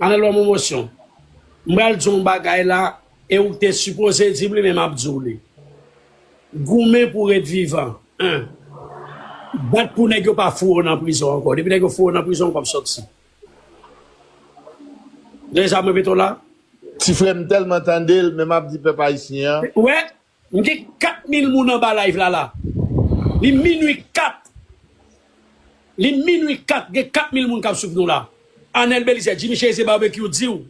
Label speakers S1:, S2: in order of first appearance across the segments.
S1: Anel banm yon motion. M pral di w yon bagay la e ou te sipoze di m li men m ap di w li. Goumen pou w ret vivan 1. Bat pou nèg yo pa foure w nan prizon ankò. Depi nèg yo foure w nan prizon ou pap sòti. Deja m repete w la. Ti frè m
S2: tèlman tande l men m ap di pèp ayisyen an. Ou wè? M
S1: gen 4 mil moun anba live la la li minwi 4 li minwi 4 gen 4 mil moun kap swiv nou la Anel Belizaire Jimmy Cherizier Barbecue diw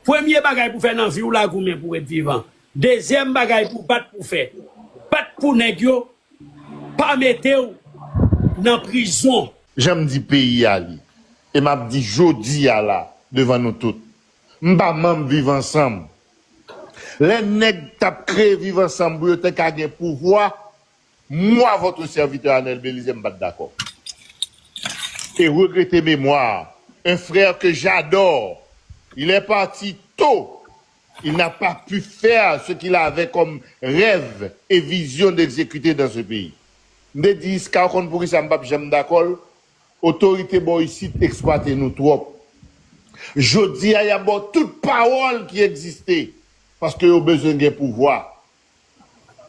S1: premye bagay pou fè nan viw la goumen pou ret vivan dezyèm bagay pou bat pou fè bat pou nèg yo pa metew nan prizon. Janm di peyi
S2: a li e map di jodi a la devan nou tout m pa manb viv ansanm Lè nèg tap kreye viv ansanm pou yo te ka gen pouvwa, moi votre serviteur Anel Belize m pat dakò. E regrete memwa un frère que j'adore il est parti tot il n'a pas pu faire ce qu'il avait comme rêve et vision d'executer dans ce pays. M te di Isca ou konn poukisa m pap janm dakò l? Otorite bò isit eksplwate nou twòp. Jodi a y ap ba w tout pawòl ki egziste paske yo bezwen gen pouvwa.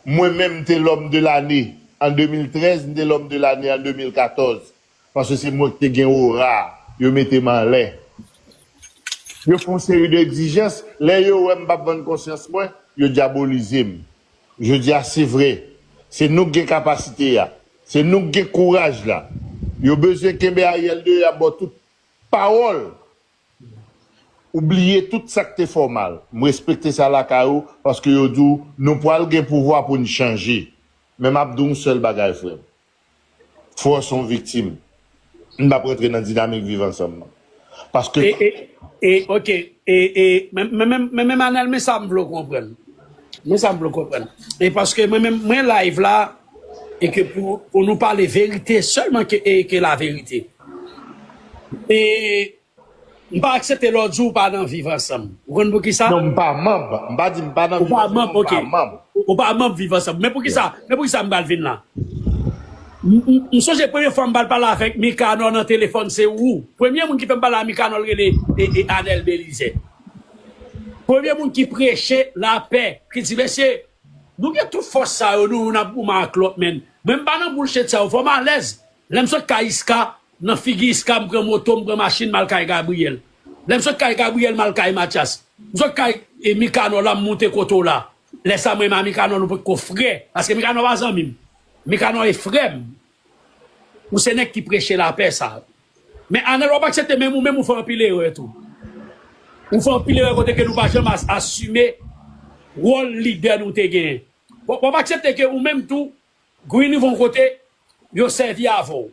S2: Mwen menm m te lòm de lane an 2013, m te lòm de lane an 2014 paske se mwen ki te gen ora a, yo mete m anlè. Yo fè yon seri de egzijans, lè yo wè m p ap vann konsyans mwen, yo dyabolize m. Jodi a se vre, se nou k gen kapasite a, se nou k gen kouraj la. Yo bezwen kenbe Ariel deyò y ap ba w tout pawòl ou bliye tout sa k te fè w mal. M respekte sa lakay ou paske yo di w nou pwal gen pouvwa pou n chanje. Men m ap di w yon sèl bagay frè m, Fò son viktim. M pap rantre nan dinamik viv ansanm nan. Paske. E e e ok e
S1: e men men men men Manel men sa m vle w konprann. Men sa m vle w konprann. E paske mwen menm mwen live la e ke pou pou nou pale verite sèlman ke e ke laverite. E. M pa aksepte lè w di w pa nan viv ansanm. Ou konn poukisa? Non, m pa manb. M pa
S2: di m pa nan viv ansanm, men m pa
S1: manb. Ou pa manb viv ansanm. Men poukisa men poukisa m pral vin la? M sonje premye fwa m pral pale avèk Mikanò nan telefòn se ou. Premye moun ki fè m pale a Mikanò l rele Anèl Belizè. Premye moun ki preche lapè, ki di mesye nou gen tout fòs sa yo nou youn ap goumen ak lòt men mwen m pa nan boulchet sa yo fò m alèz lè m sot kay Iska Nan figi Iska m pran moto m pran machin m al kay Gabriel lè m sot kay Gabriel m al kay Matyas m sot kay Mikanò la m moute kote w la lè sa m renmen a Mikanò nou potko frè paske Mikanò pa zanmi m Mikanò e frè m ou se nèg ki preche lapè sa men Anèl w ap aksepte men ou menm ou fè anpil erè tou ou fè anpil erè kote ke nou pa janm asime wòl lidè nou te genyen w ap aksepte ke ou menm tou Guy rive yon kote yo sèvi avè w.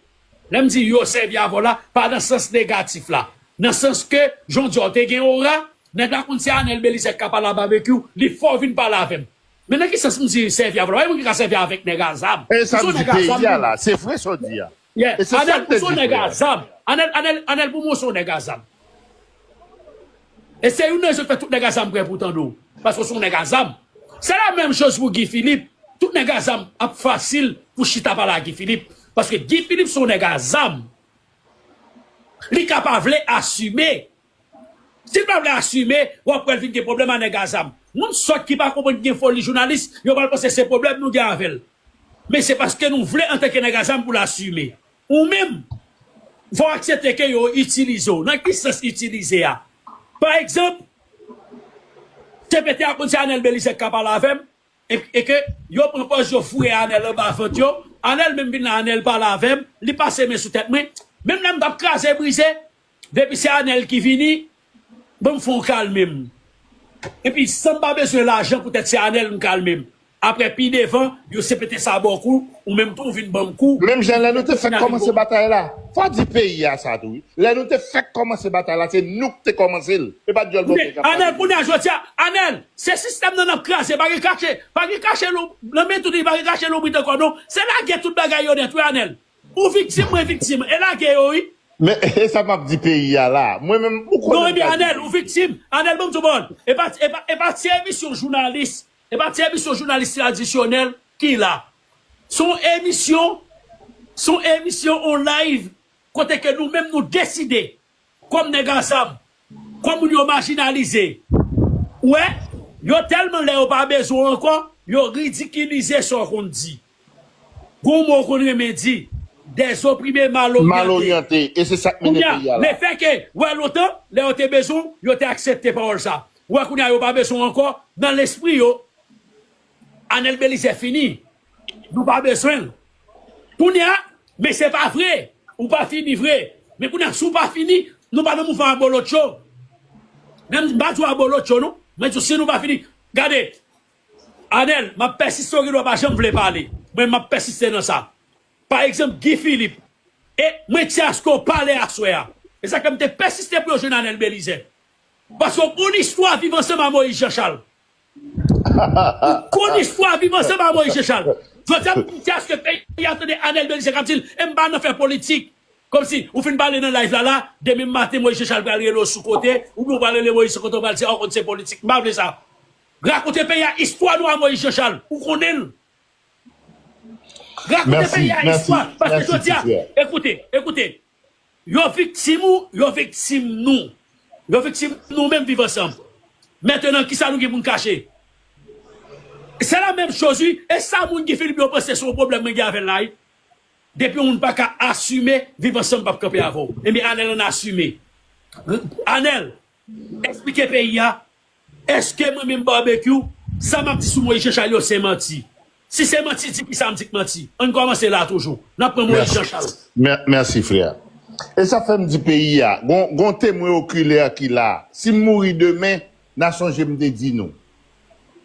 S1: Lè m di yo sèvi avè w la, pa nan sans negatif la. Nan sans ke jan w di a w te gen ora, nèg la konn se Anel Belizaire ki ka pale a Babekyou, li fè w vin pale avè m. Men nan ki sans m di sèvi avè w la? Pa gen moun ki ka sèvi avèk nèg a zam. E sa m di peyi
S2: a la, se vre sa w di a. Yeah E se sa anel k
S1: ou te son di nèg frè a a. zam anel anel anel pou mwen ou son nèg a zam e se youn nan rezon k fè tout nèg a zam prè pou tande w paske w son nèg a zam se la menm choz pou Guy Philippe tout nèg a zam ap fasil pou chita pale a Guy Philippe paske Guy Philippe son nèg a zam li ka pa vle asime Sil pa vle asime, wap wèl vin gen pwoblèm a nèg a zam. Moun sòt ki pa konprann ki gen foli jounalis, yo pral panse se pwoblèm nou gen avèl. Men se paske nou vle antanke nèg a zam poul asime. Ou menm, fòw aksepte ke yo itilize w. Nan ki sans itilize a? Pa egzanp, CPT a konn se Anel Belizaire ki ka pale avèm, e ke yo pran pòz yo foure Anel anba vant yo, Anel menm vin la Anel pale avèm, li pase men sou tèt mwen, menm lèm tap kraze brize, Depi se anel ki vini banm fon kalmem epi sanm pa bezwen lajan poutèt se anel m kalmem aprè pi devan yo sepete sa baw kou ou menm tou ou vin banm kou Menm jan lè nou te fèk
S2: kòmanse batay la, fò di peyi a sa tou wi, lè nou te fèk kòmanse batay la se nou k te kòmanse l, e pa dyòl bòkyè k ap pale de li.
S1: Anel, se sistèm nan nap kraze pa gen kache pa gen kache nan men tout li pa gen kache loubrit ankò non se lage tout bagay yo nèt wi anel. Ou viktim mwen viktim e lage yo wi. Men esa map
S2: di peyi a la. Mwen menm ou konnen Non ebyen Anel ou viktim
S1: Anel banm di w bon epa epa epa ti emisyon jounalis epa ti emisyon jounalis tradisyonèl ki la son emisyon son emisyon on live kote ke nou menm nou deside Kom neg ansanm. Kom moun yo majinalize. Ou we? Yo telman le yo pa bezwen w anko, yo ridikilize sa w konn di. Gon mo w konn renmen di, dezoprime mal oryante. Mal oryante, e se sak mennen peyi a la.
S2: Kounya, lefè ke ou we
S1: lontan, le yo te bezwen w, yo te aksepte pawol sa. Ou we kounya yo pa bezwen w anko, nan lespri yo. Anel Belizaire fini nou pa bezwenl kounya men se pa vre ou pa fini vre men kounya si w pa fini nou pa nan mouvman abolotcho men m pa di w abolotcho non mwen di w si nou pa fini gade Anel m ap pèsiste w gen dwa pa janm vle pale men m ap pèsiste nan sa pa egzanp Guy Philippe e mwen ti aske w pale aswè a e sa k fè m te pèsiste pou yo jwenn Anel Belizaire paske w konn istwa viv ansanm a Moïse Jean Charles Ou konn istwa viv ansanm a Moïse Jechal. Jodi a pou kiyès ke peyi a tande Anel Belize kap dil em pa nan fè politik. Komsi ou fin pale nan live la la, demen maten Moïse Jechal pral rele w sou kote, oubyen ou pral rele Moïse sou kote ou pral di a ou konn se politik. M pa vle sa. Rakonte peyi a istwa nou a Moïse Jechal. Ou konnen l. Rakonte peyi a istwa. Paske jodi a, ekoute, ekoute. Yo viktim ou, yo viktim nou. Yo viktim nou menm Viv Ansanm. Mentenan kisa nou gen pou n kache? Se la menm choz wi, e sa moun Guy Philippe yo panse se yon pwoblèm mwen gen avè l la wi. Depi yon moun pa ka asime, Viv Ansanm p ap kanpe avè w. Ebyen Anèl ann asime. Anèl, Esplike peyi a, Eske mwen menm Barbecue, sa m ap di sou Moïse Jean Charles yo se manti? Si se manti, di kisa m di k manti? Ann kòmanse la toujou. N ap pran Moïse Jean Charles. Mèsi, mèsi frè.
S2: E sa fè m di peyi a, gon, gon temwen okiler ki la. Si m mouri demen, n a sonje m te di nou.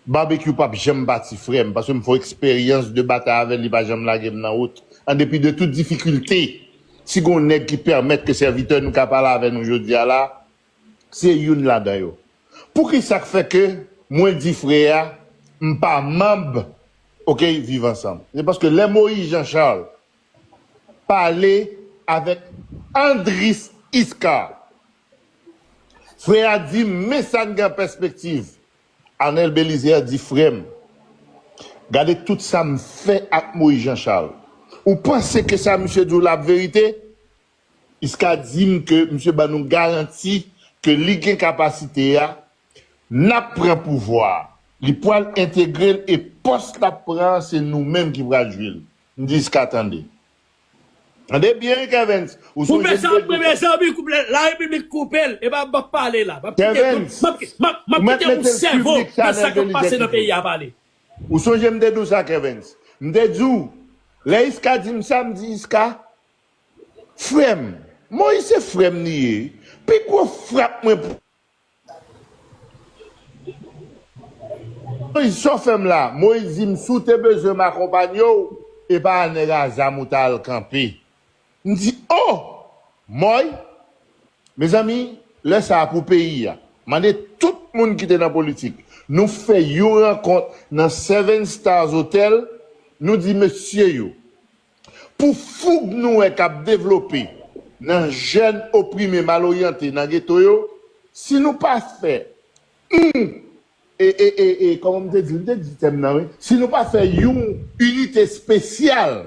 S2: Barbecue pap janm pati frèm paske m fon eksperyans de batay avèl li pa janm lagem nan wout an depi de tout difikilte si gon nèg ki pèmèt ke sèvitè nou ka pale avè nou jodia la se youn ladan yo poukisak fè ke mwen di frè a m pa manb ok viv ansanm se paske lè Moïse Jean Charles pale avèk Andris Iscard Frè a di, Men sa n gen an pèspektiv. Arnel Bélizaire di, Frè m, gade tout sa m fè ak Moïse Jean Charles. Ou panse ke sa misye di w la ap verite? Jiska di m ke misye ban nou garanti ke li gen kapasite a, n ap pran pouvwa a, li pral entegre l e pòs l ap pran an se nou menm ki pral jwi l. M di, Jiska tande. Tande byen kevens ou sou Koupe sa ap
S1: renmen zanmi koupe la repiblik koupel epa map pale la map kite Kevens
S2: map kite
S1: yon sèvo nan sa kap pase nan peyi a pale. Ou sonje m te
S2: di w sa Kevens m te di w lè Isca di m sa m di Isca frè m Moïse se frè m li ye pi gwo frap mwen Moise chofem la. Moise di m si w te bezwen m akonpanye w e pa a nèg a zam ou ta al kanpe. M di oh! Moy! Mezanmi lè sa a pou peyi a. Mande tout moun ki te nan politik. Nou fè yon rankont nan Seven Stars Hotel, nou di mesye yo. Pou foug nou wè k ap devlope nan jèn oprime mal oryante nan geto yo, si nou pa fè oun e e e e kòman m te di l, m te di tèm nan wi, si nou pa fè yon inite spesyal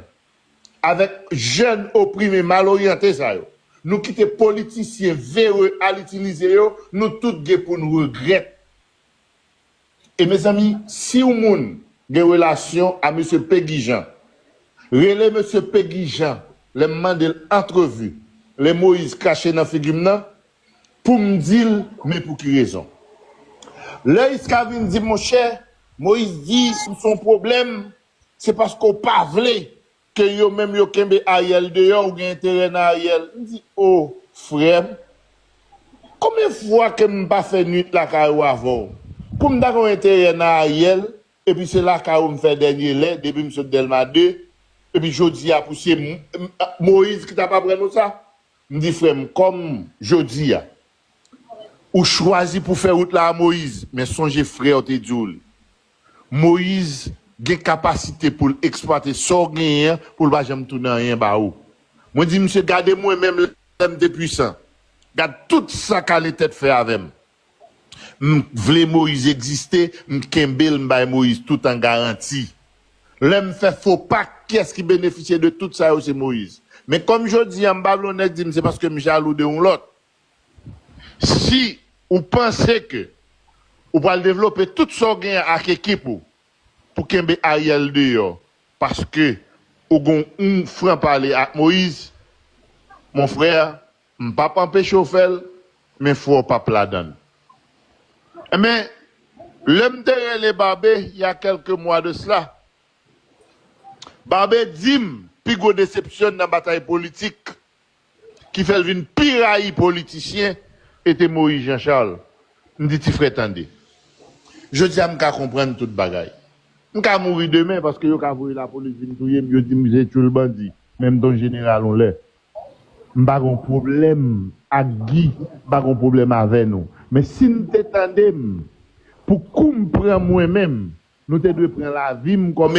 S2: avèk jèn oprime mal oryante sa yo, nou kite politisyen vere al itilize yo, nou tout gen pou n regrèt. E mezanmi siw moun gen relasyon a mesye Pegi Jan rele mesye Pegi Jan lèm mandel antrevu lè Moïse krache nan figim nan poum dil men pou ki rezon lè Isca vin di monchè Moïse di ou son pwoblèm se paske ou pa vle Ke yo menm yo kenbe Ariel deyò ou gen enterè nan Ariel m di oh frèm konbyen fwa ke m pa fè nwit lakay ou avè w kou m ta gen yon enterè nan Ariel epi se lakay ou m fè dènye lè depi m sot Dèlma 2 epi jodi a pou se Moïse ki t ap aprann ou sa m di frèm kòm jodi a ou chwazi pou fè wout la a Moïse men sonje frè w te di w li. Moise gen kapasite pou l eksplwate sa w genyen an pou l pa janm tounen anyen ba ou. Mwen di misye gade mwen menm lè m te pwisan, gad tout sa kale tèt fè avè m. M vle Moise egziste, m kenbe l m bay Moise tout an garanti. Lè m fè fo pa kiyès ki benefisye de tout sa yo se Moise. Men kòm jodi a m pa vle yon nèk di m se paske m jalou de yon lòt. Si ou panse ke ou pral devlope tout sa ou genyen ak ekip ou pou kenbe Ariel deyò paske ou gen yon fran pale ak Moïse, mon frère, m pap anpeche w fè l, men fwa w pap ladan l. Enben, lè m te rele Barbe il y a quelques mois de cela, Barbe di m pi gwo desepsyon n nan batay politik ki fèl vin pi rayi politisyen e te Moïse Jean Charles m di ti frè tande jodia m ka konprann tout bagay m ka mouri demen paske yo ka voye lapolis vin touyem yo dim se tchoul bandi men m t on jeneral on lè m pa gon pwoblèm ak Guy m pa gon pwoblèm avè nou men si n te tandem pou kou m pran mwen menm nou te dwe pran lavi m kòm